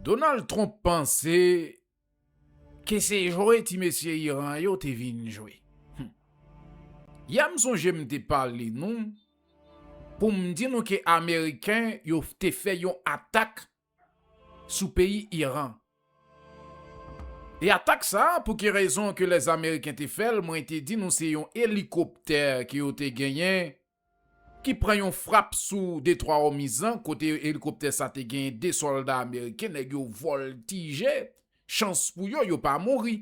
Donald Trump panse ke se jwe ti mesye Iran yo te vin jwe. Hum. Yè m sonje m te pale nou pou m di nou ke Ameriken yo te fè yon atak sou peyi Iran. E atak sa a pou ki rezon ke lè Ameriken te fè l mwen te di nou se yon elikoptè ke yo te genyen ki pran yon frap sou detwa Òmiz lan kote elikoptè sa te genyen 2 sòlda ameriken, nèg yo vòltije, chans pou yo, yo pa mouri.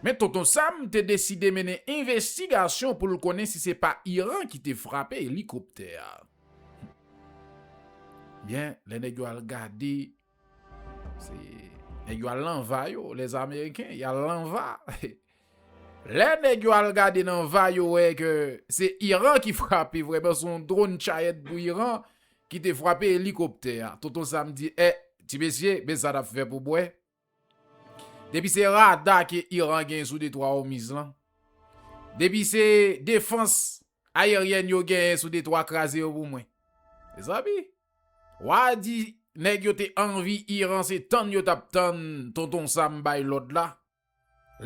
Men Tonton Sam te deside mennen envestigasyon pou l konnen si se pa Iran ki te frape elikoptè a. Byen, lè nèg yo al gade Se nèg yo al nan va yo, les Américains, y al nan va. Lè nèg yo al gade nan va yo wè ke se Iran ki frape vrèman, se yon drone chayèt pou Iran ki te frape elikoptè a. Tonton Sam di, e, ti mesye, men sa n ap fè pou mwen. Depi se rada ke Iran gen sou detwa Omiz lan, depi se defans Ayeryèn yo genyen sou detwa kraze yo pou mwen. Mezanmi! Wa a di nèg yo te anvi Iran se tann yo tap tann Tonton Sam bay lòd la.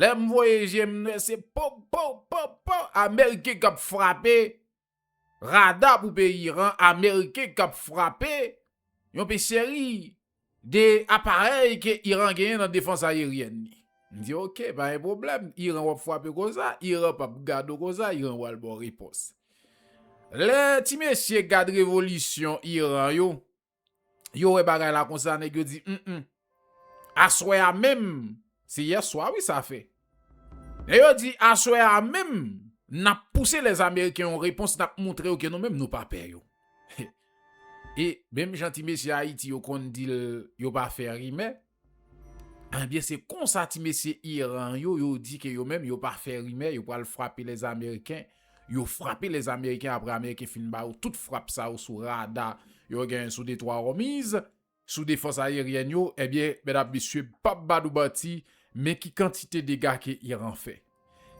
Lè m voye je m m wè se po po po po ameriken kap frape rada pou peyi Iran ameriken kap frape yon pe seri 2 aparèy ke Iran genyen nan defans ayeryèn li. M di ok, pa gen pwoblèm, Iran w ap fwape konsa, Iran p ap gad ou konsa, Iran pral ba w repons. Lè ti mesye gad revolisyon Iran yo, yo wè bagay la konsa, nèg yo di, m m, aswè a menm, se yèswa wi sa fè, Lè yo di aswè a menm nap pouse lè ameriken yon repons nap moutre yo ke nou menm nou pa pè yo. E menm jan ti mesye ayiti yo konn dil yo pa fè rimè, ebyen se konsa ti mesye iran yo yo di ke yo menm yo pa fè rimè yo pral frape lè ameriken, yo frape lè ameriken apre ameriken fin ba yo tout frap sa yo sou rada yo genyen sou detwa òmiz sou defans ayeryèn yo ebyen medam mesye pap ba nou manti men ki kantite dega ke Iran fè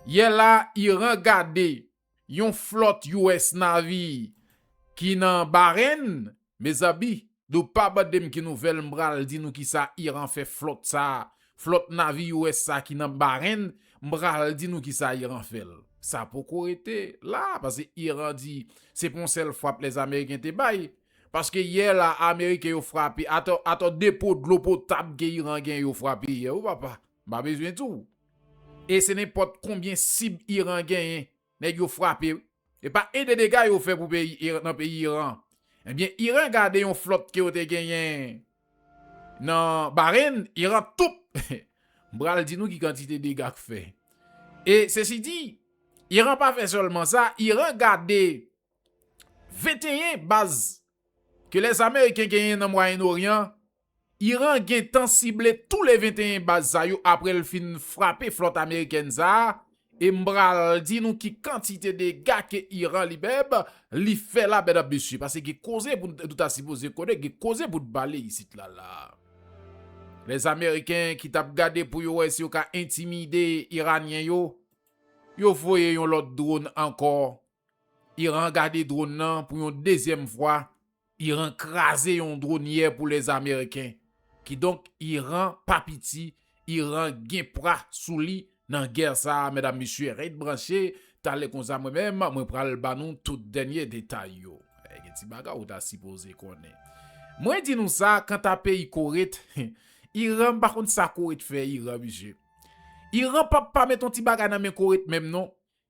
yè la Iran gade yon flòt US Navy ki nan Bahrain mezanmi nou pa mandem ki nouvèl m pral di nou kisa Iran fè flòt sa flòt Navy US sa ki nan Bahrain m pral di nou kisa Iran fèl sa poko rete la pase Iran di se pa yon sèl fwap lèzameriken te bay Paske yè la ameriken yo frape ato depo dlo potab ke Iran gen yo frape yè wi papa m pa bezwen di w e se nenpot konbyen sib Iran genyen neg yo frape wi e pa 1 2 dega yo fè pou peyi nan peyi Iran ebyen Iran gade yon flot ke yo te genyen nan Bahrain Iran toup m pral di nou ki kantite dega k fè e sesi di Iran pa fè selman sa Iran gade 21 baz ke lèz ameriken genyen nan mwayen oryan, Iran gentan sible tou le 21 baz sa yo apre l fin frape flòt amerikèn sa, e m pral di nou ki kantite dega ke Iran li menm li fè la medam mesye, pase gen koze pou nou ta sipoze konnen, gen koze pou nou pale isit la la. Lèz ameriken ki tap gade pou yo wè si yo ka entimide iranyen yo, yo voye yon lòt dron ankò. Iran gade dron nan pou yon dezyèm fwa, Iran kraze yon dron yè pou les ameriken. Kidonk Iran pa piti, Iran gen pra sou li nan gè sa a medam mesye ret branche, talè konsa mwen menm mwen pral ba nou tout dènye detay yo. Gen ti bagay ou ta sipoze konnen. Mwen di nou sa kanta peyi Kore t, Iran m pa konn sa Kore t fè Iran mesye. Iran pap pa met yon ti bagay nan men Kore t menm non.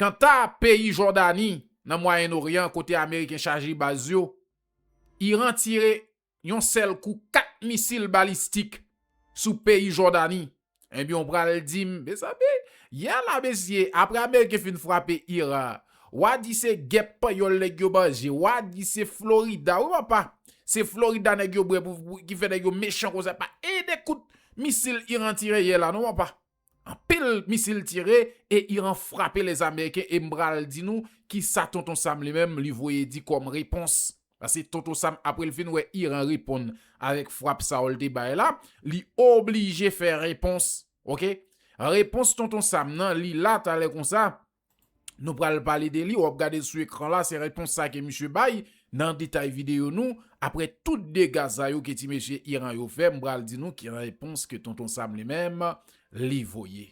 Kanta peyi Jòdani, nan Mwayen Oryan kote Ameriken chaje baz yo, Iran tire yon sèl kou 4 misil balistik sou peyi Jòdani. Ebyen w pral di m, mezanmi, yè la mesye, apre Ameriken fin frape Iran, wa di se gèp panyòl nèg yo manje, wa di se Florida, wi papa, se Florida nèg yo bwè pou, ki fè nèg yo mechan konsa, pa 1 de kout misil Iran tire yè la non papa. Anpil misil tire e Iran frape les Américains e m pral di nou kisa Tonton Sam li menm li voye di kòm repons. Pase Tonton Sam apre l fin wè Iran reponn avèk frap sa yo l te bay la, li oblije fè repons ok. Repons Tonton Sam nan li la talè konsa Nou pral pale de li, wap gade sou ekran la, se repons sa ke misye bay nan detay video nou, apre tout dega sa yo ke ti mesye Iran yo fè, m pral di nou ki repons ke Tonton Sam li menm li voye.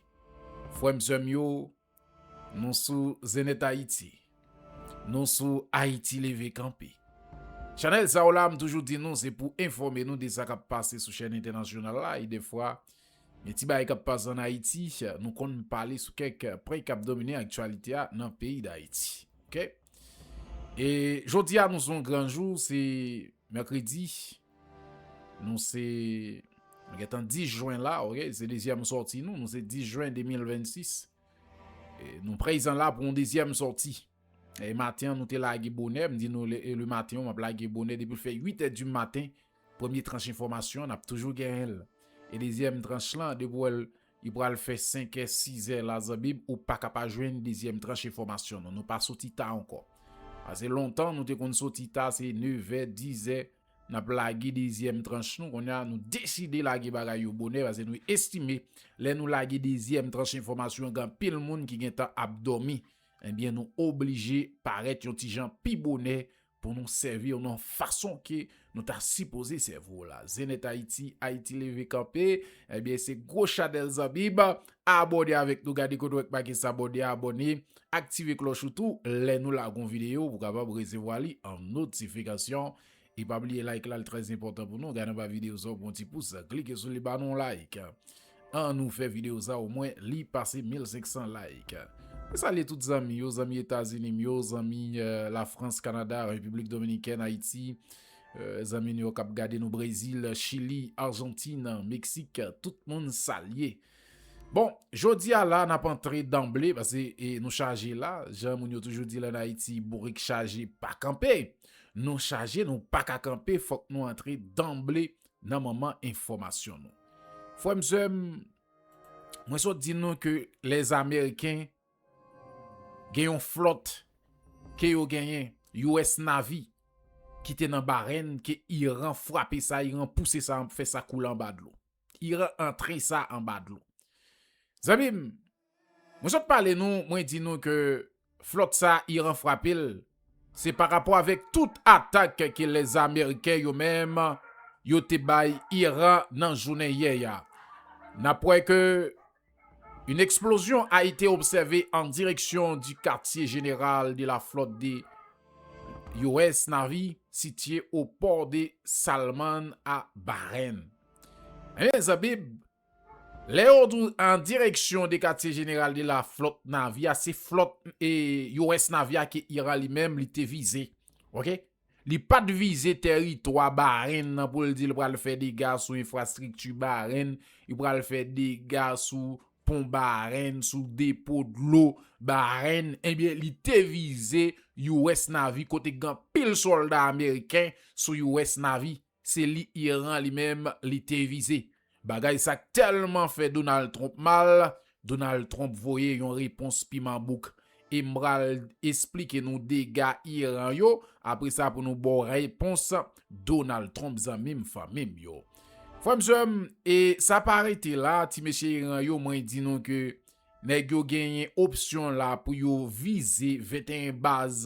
Frè m sè m yo, nou sou Zenethayiti, nou sou Ayiti leve kanpe. Chanèl sa yo la, m toujou di nou se pou enfòme nou de sa kap pase sou chèn entènasyonal la e defwa Gen ti bagay k ap pase an Ayiti, nou konn pale sou kèk pwen k ap domine aktyalite a nan peyi Dayiti. Ok. E jodi a nou se yon gran jou, se mèkredi, nou se nou gen tan 10 jwen la, ok, se dezyèm sòti nou, nou se 10 jwen 2026. E nou prezan la pou yon dezyèm sòti. E maten an nou te lage bonè, m di nou le maten an m ap lage bonè depi l fè 8 è di maten, ok. Premye tranch enfòmasyon nap toujou genyenl e dezyèm tranch lan depi wèl li pral fè 5 è 6 è la zanmim ou paka pa jwenn dezyèm tranch enfòmasyon nou nou pa soti ta ankò pase lontan nou te konn soti ta se 9 è 10 è nap lage dezyèm tranch nou konnya nou deside lage bagay yo bonè pase nou estime lè nou lage dezyèm tranch enfòmasyon gen anpil moun ki gentan ap dòmi ebyen nou oblije parèt yon ti jan pi bonè Pou nou sèvi w nan fason ke nou ta sipoze sèvi w la. Zenith Haiti, Haiti leve kanpe. Ebyen eh se gwo chanèl zanmi m. Abòne avèk nou gade kote wè k make s'abonner abòne. Aktive klòch ou tou lè nou lage yon videyo pou kapab resevwa li an notifikasyon. E pa bliye like la li trèzenpòtan pou nou. Gade anba videyo sa ou pran yon ti pous, klike sou li ba nou yon like. An nou fè video sa o mwen li pase 1500 like. Mwen salye tout zanmi yo, zanmi Etazini m yo, zanmi la France, Canada, République Dominicaine, Haïti, zanmi nou yo kap gade nou Brésil, Chili, Argentine, Mexique, tout moun salye. Bon, jodi a la nap antre danble pase nou chaje la, jan moun yo toujou di l an Haïti bourik chaje pa kanpe. Nou chaje nou paka kanpe fòk nou antre danble Nan moman enfòmasyon nou. Frè m sè m, mwen sot di nou ke lè ameriken gen yon flòt ke yo genyen US Navy ki te nan Bahrain ke Iran frape sa, Iran pouse sa, fè sa koule anba dlo. Iran antre sa anba dlo. Zanmi m! Mwen sot pale nou, mwen di nou ke flòt sa Iran frape l, se pa rapò avèk tout atak ke lè ameriken yo menm yo te bay Iran nan jounen yè a. N ap wè ke une explosion a été observée en direction du quartier général de la flotte de US Navy situé au port de Salman a Bahreïn. Ebyen zanmim. Lè yo di w an direksyon de katye jeneral de la flòt Navi a, se flòt US Navi a ke Iran li menm li te vize. Ok. Li pa t vize tèritwa Bahrain nan pou l di l pral fè dega sou enfrastrikti Bahrain, li pral fè dega sou pon Bahrain, sou depo dlo Bahrain. Ebyen li te vize US Navi kote gen anpil sòlda ameriken sou US Navi. Se li Iran li menm li te vize. Bagay sa k tèlman fè Donald Trump mal, Donald Trump voye yon repons piman bouk. E m pral esplike nou dega Iran yo, apre sa pou nou ba w repons Donald Trump zanmi m fanmi m yo. Frè m sè m, e sa pa rete la, ti mesye Iran yo mwen di nou ke nèg yo genyen opsyon la pou yo vize 21 baz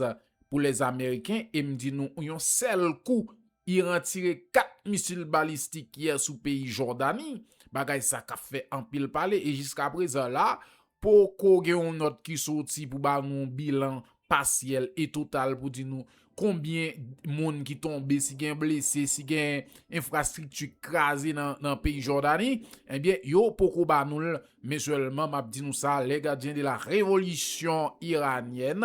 pou les ameriken e m di nou yon sèl kou Iran tire 4 misil balistik yè sou peyi Jòdani, bagay sa k ap fè anpil pale e jiskaprezan la poko gen yon nòt ki soti pou ba nou yon bilan pasyèl e total pou di nou konbyen moun ki tonbe, si gen blese, si gen enfrastrikti k kraze nan peyi Jòdani, ebyen yo poko ba nou l men sèlman m ap di nou sa lè gadyen de la revolisyon iranyèn.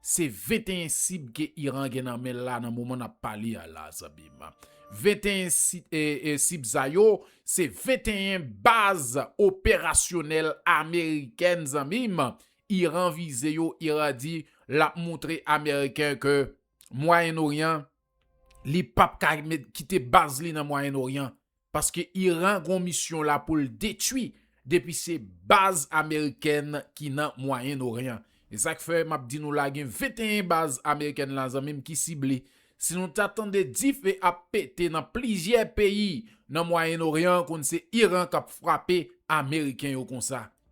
Se 21 sib ke Iran gen nan men l la nan moman n ap pale a la zanmi m. 21 sib sa yo, se 21 baz operasyonèl amerikèn zanmi m. Iran vize yo, Iran di l ap montre ameriken ke Mwayen Oryan, li p ap ka kite baz li nan Mwayen Oryan Paske Iran gon misyon la poul detwi depi se baz amerikèn ki nan mwayenn oryan esak fè map di nou la gen 21 baz amerikèn la zanmim ki sible si nou ta tande dife ap pete nan plizyè peyi nan mwayenn oryan konn se Iran kap frape ameriken yo konsa.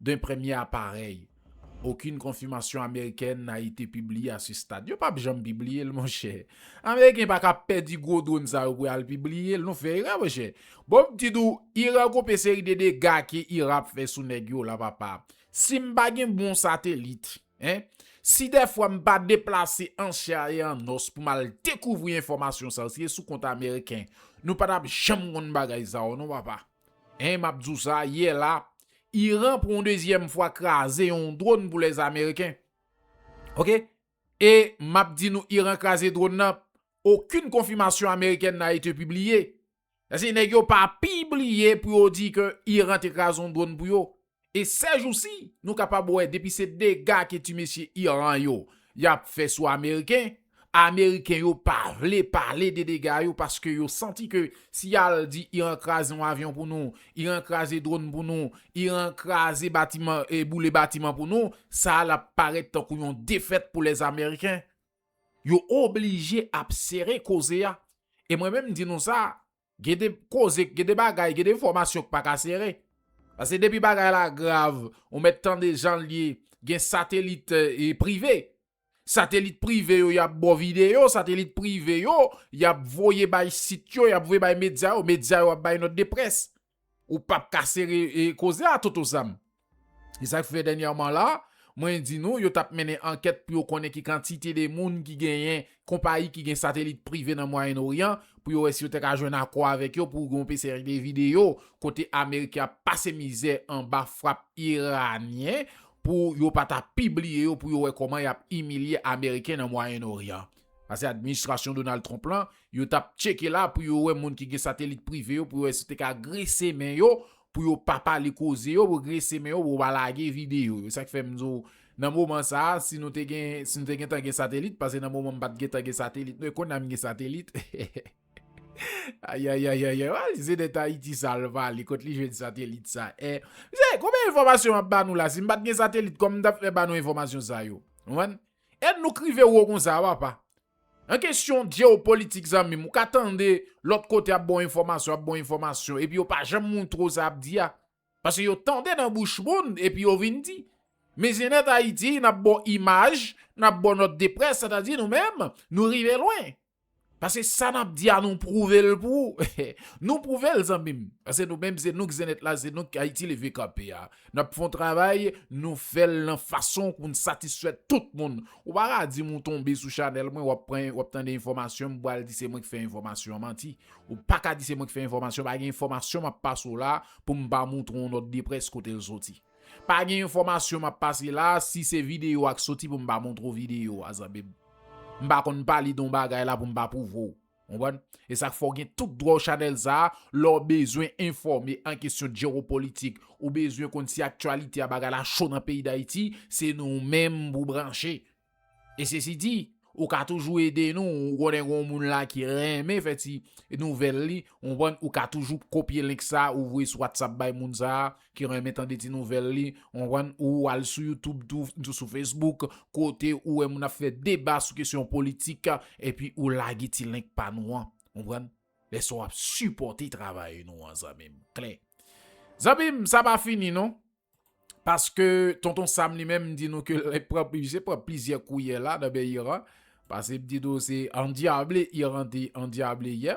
D'un premier appareil. Aucune confirmation américaine n'a été publiée à ce stade. Yo pap janm pibliye l monchè. Ameriken pa ka pèdi gwo dronn sa yo pou y al pibliye l. Nou fè erè monchè. Bon m di tou, Iran gon pe seri de dega ke Iran ap fè sou nèg yo la papa. Si m pa gen bon satelit, hein, si dèfwa m pa deplase an chè e an os pou m al dekouvri enfòmasyon sa yo, si se sou kont ameriken, nou pa t ap janm konn bagay sa yo non papa. Hein map di w sa, yè la, Iran pou yon dezyèm fwa kraze yon drone pou les Américains. Ok. E map di nou Iran kraze drone nan, okenn konfimasyon amerikèn n'a ete pibliye. Sase nèg yo pa pibliye pou yo di ke Iran te kraze yon drone pou yo. E sèjousi nou kapab wè depi se dega ke ti mesye Iran yo yap fè sou ameriken, ameriken yo pa vle pale de dega yo paske yo santi ke si yal di Iran kraze yon avyon pou nou, Iran kraze dronn pou nou, Iran kraze batiman e boule batiman pou nou, sa a lap parèt tankou yon defèt pou lèzameriken. Yo oblije ap sere koze a. E mwen menm m di nou sa, Gen de koze, gen de bagay, gen de enfòmasyon k pa ka sere. Pase depi bagay la grav, ou mèt tande jan l ye, gen satelit prive. Satelit prive yo y ap ba w videyo, satelit prive yo y ap voye bay sit yo, y ap voye bay medya yo, medya yo ap bay nòt de près. Ou pap ka sere koze a Toto Sam. E sa k fè dènyèman la, mwen di nou, yo t ap mennen ankèt pou yo konnen ki kantite de moun ki genyen konpayi ki gen satelit prive nan Mwayen Oryan, pou yo wè si yo te ka jwenn akò avèk yo pou yon seri de videyo kote Ameriken ap pase mizè anba frap Iranyen pou yo pa ta pibliye yo pou yo wè kòman y ap imilye Ameriken nan Mwayen Oryan. Sa se administrasyon Donald Trump lan Yo t ap tcheke la pou yo wè moun ki gen satelit prive yo pou yo wè si yo te ka grese men yo pou yo pa pale koze yo pou yo grese men yo pou yo pa lage videyo yo. Se sa k fè m di w nan moman sa a si nou te gen si nou te gentan gen satelit pase nan moman m pa t gentan gen satelit men kounye a m gen satelit ayayayayay w al ze nèt Ayiti sa l pale kot li jwenn satelit sa e msye konbyen enfòmasyon m ap ba nou la si m pa t gen satelit kòman m t ap fè ba nou enfòmasyon sa yo konprann èd nou k rive wo konsa papa Nan kesyon jeopolitik zanmim ou ka tande lòt kote ap baw enfòmasyon ap baw enfòmasyon epi yo pa janm moutre w sa yap di a paske yo tande nan bouch moun epi yo vin di men Zenith Haïti nap baw imaj nap baw nòt de près sèt a di nou menm nou rive lwen paske sa nap di a nou pwouve l pou ou nou pwouve l zanmim paske nou menm se nou k Zenith la se nou k Haïti leve kanpe a N ap fè yon travay, nou fè l nan fason pou n satisfè tout moun. Ou pa ka di m ou tonbe sou chanèl mwen, w ap pran, w ap tande enfòmasyon m pou al di se mwen ki fè enfòmasyon an. Manti. Ou pa ka di se mwen ki fè enfòmasyon, pa gen enfòmasyon m ap pase w la pou m pa montre w yon nòt de près kote l soti. Pa gen enfòmasyon m ap pase la a, si se videyo a ki soti pou m pa montre w videyo a, zanmi m. M pa konn pale de yon bagay la pou m pa pwouve w. Konprann? E sa k fè w gen tout dwa w chanèl sa a, lè w bezwen enfòme an kesyon jewopolitik, ou bezwen konn si aktyalite a bagay la cho nan peyi Dayiti, se nou menm pou w branche. E sesi di, ou ka toujou ede nou, ou konnen gon moun la ki renmen fè ti nouvèl li, konprann, ou ka toujou kopye link sa a ou voye sou WhatsApp bay moun sa a, ki renmen tande ti nouvèl li konprann ou al sou youtube tou tou sou facebook kote ou wè moun ap fè deba sou kesyon politik epi ou lage ti link pa nou an konprann lè sa w ap sipòte travay nou an zanmi m klè zanmi m sa pa fini non paske tonton sam li menm di nou ke l pran li pran plizyè kouyè la nan men iran paske m di nou se andyable iran te andyable yè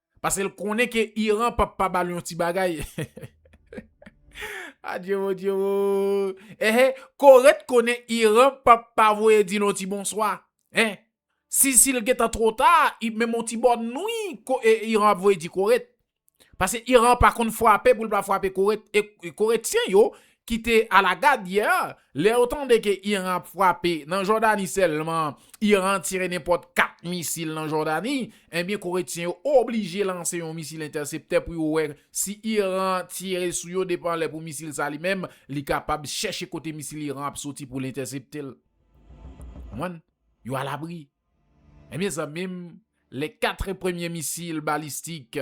Pase l konnen ke Iran pap pa bal yon ti bagay Adyewo dyewo eh Kore t konnen Iran pap pa voye di l yon ti bonswa eh Si si l gentan two ta menm yon ti bòn nwi Iran ap voye di Kore t Pase Iran pa konn fwape pou l pa fwape Kore t e Koretyen yo ki te alagad yè a, lè yo tande ke Iran ap frape nan Jòdani sèlman, Iran tire nenpòt 4 misil nan Jòdani, enbyen Koretyen yo oblije lanse yon misil entèseptè pou yo wè si Iran tire sou yo depan lè pou misil sa li menm, li kapab chèche kote misil Iran ap soti pou l entèsepte l. Konprann? Yo alabri. Enbyen zanmi m, lè 4 premye misil balistik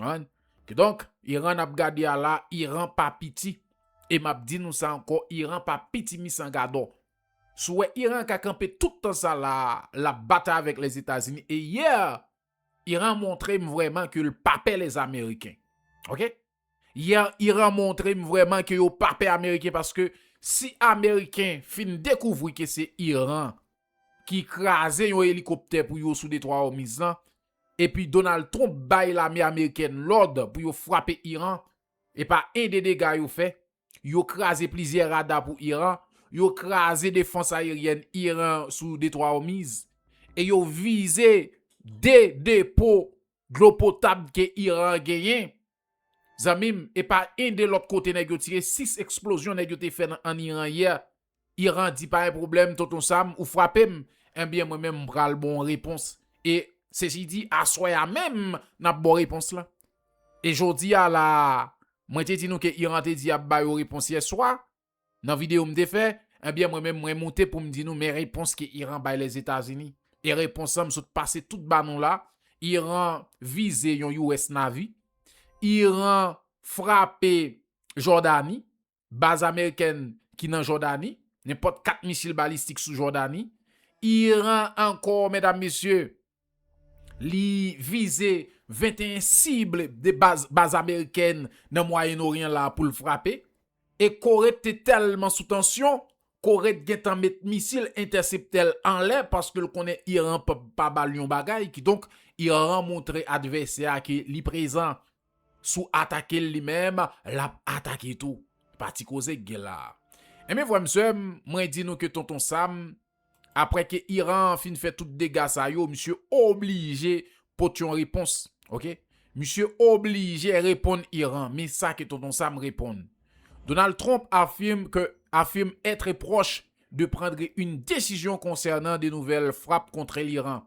An. Kidonk, Iran n ap gade a la, Iran pa piti. E m ap di nou sa ankò, Iran pa piti mis an gadò. Si w wè Iran ka kanpe tout tan sa la a, l ap batay avèk Lèzetazini. E yè, Iran montre m vrèman ke l pa pè Lèzameriken. Ok. Yè, Iran montre m vrèman ke yo pa pè Ameriken paske si Ameriken fin dekouvri ke se Iran ki kraze yon elikoptè pou yo sou Detwa Òmiz lan, Epi Donald Trump bay lame amerikèn lòd pou yo frape Iran, e pa 1 de dega yo fè, yo kraze plizyè rada pou Iran, yo kraze defans ayeryèn Iran sou Detwa Òmiz, e yo vize 2 depo dlo potab ke Iran genyen Zanmim epa yn de lòt kote nèg yo tire 6 eksplozyon nèg yo te fè nan an Iran yè Iran di pa yn pwoblèm tonton Sam ou frapem enbyen mwen menm mpral bon repons e sesi di aswè a menm nap baw repons lan e jodi a la mwen te di nou ke Iran te di yap bayo repons yèswa Nan video m te fè, ebyen mwen menm mwen moute pou m di nou men repons ke Iran bay Lèzetazini. E repons lan m sot pase tout ba nou la, Iran vize yon US Navy, Iran frape Jòdani, baz amerikèn ki nan Jòdani, nenpòt 4 misil balistik sou Jòdani, Iran ankò medam mesye, Li vize 21 sible de baz baz amerikèn nan Mwayen Oryan la pou l frape. E Kore te tèlman sou tansyon, Kore t gentan met misil entèseptè-l anlè paske l konnen Iran p ap pa ba l yon bagay, kidonk Iran montre advèsè a ke li prezan. Sou atake l li menm, l ap atake tou. Pati koze k gen la. Enben frè m sè m, mwen di nou ke Tonton Sam Aprè ke Iran an fin fè tout dega sa yo, misye oblije pot yon repons. Ok. Misye oblije reponn Iran. Men sa ke Tonton Sam reponn. Donald Trump affirme que affirme être proche de prendre une décision concernant de nouvelles frappes contre l'Iran.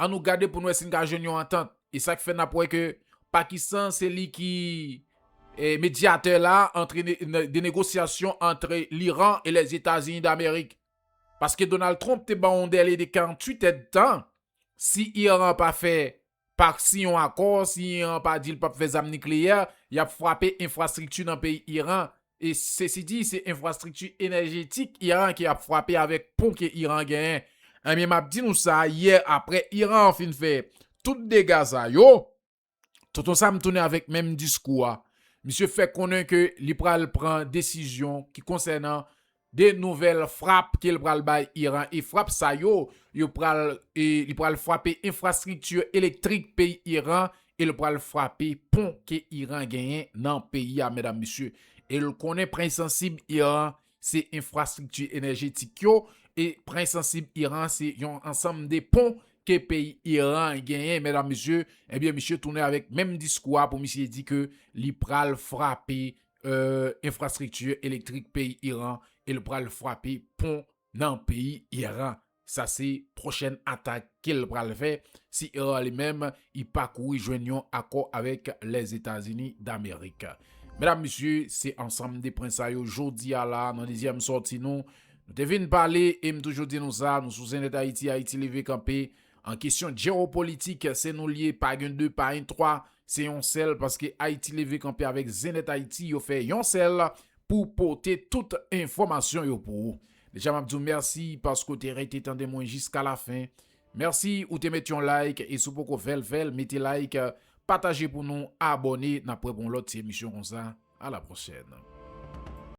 An nou gade pou n wè si n ka jwenn yon antant. E sa k fè n ap wè ke Pakistan se li ki medyatè la antre de negosyasyon antre Liran e Lèzetazini Damerik. Paske Donald Trump te ban yon dèle de 48 èdtan, si Iran pa fè, pa siyen yon akò, si Iran pa di l p ap fè zam nikleyè, y ap frape enfrastrikti nan peyi Iran, Sesidi, se enfrastrikti enèjetik Iran ki ap frape avèk pon ke Iran genyen. Ebyen m ap di nou sa, yè aprè Iran fin fè tout dega sa yo, Tonton Sam tounen avèk menm diskou a. Misye fè konnen ke li pral pran desizyon ki konsènan 2 nouvèl frap ke l pral bay Iran e frap sa yo yo pral li pral frape enfrastrikti elektrik peyi Iran e l pral frape pon ke Iran genyen nan peyi a medam mesye e l konnen pren sansib Iran se enfrastrikti enèjetik yo e pren sansib Iran se yon ansanm de pon ke peyi Iran genyen medam mesye ebyen misye tounen avèk menm diskou a pou misye di ke li pral frape enfrastrikti elektrik peyi Iran e l pral frape pon nan peyi Iran. Sa se pwochèn atak ke l pral fè si Iran li menm li pa kouri jwenn yon akò avèk Lèzetazini Damerik. Medam, mesye, se ansanm de pwen sa yo jodi a la nan dezyèm sòti nou. Nou te vin pale e m toujou di nou sa, nou sou ZenEtHaiti, Ayiti Leve Kanpe. An kesyon jewopolitik, se nou li ye, pa gen de, pa gen twa. Se yon sèl paske Ayiti leve kanpe avèk zen nèt Ayiti yo fè yon sèl pou pote tout enfòmasyon yo pou ou deja map diw mèsi paske ou te rete tande mwen jiska la fen mèsi ou te met yon like e si w poko fèl fèl mete like pataje pou nou abòne nap prè pou yon lòt ti emisyon konsa a la pwochèn.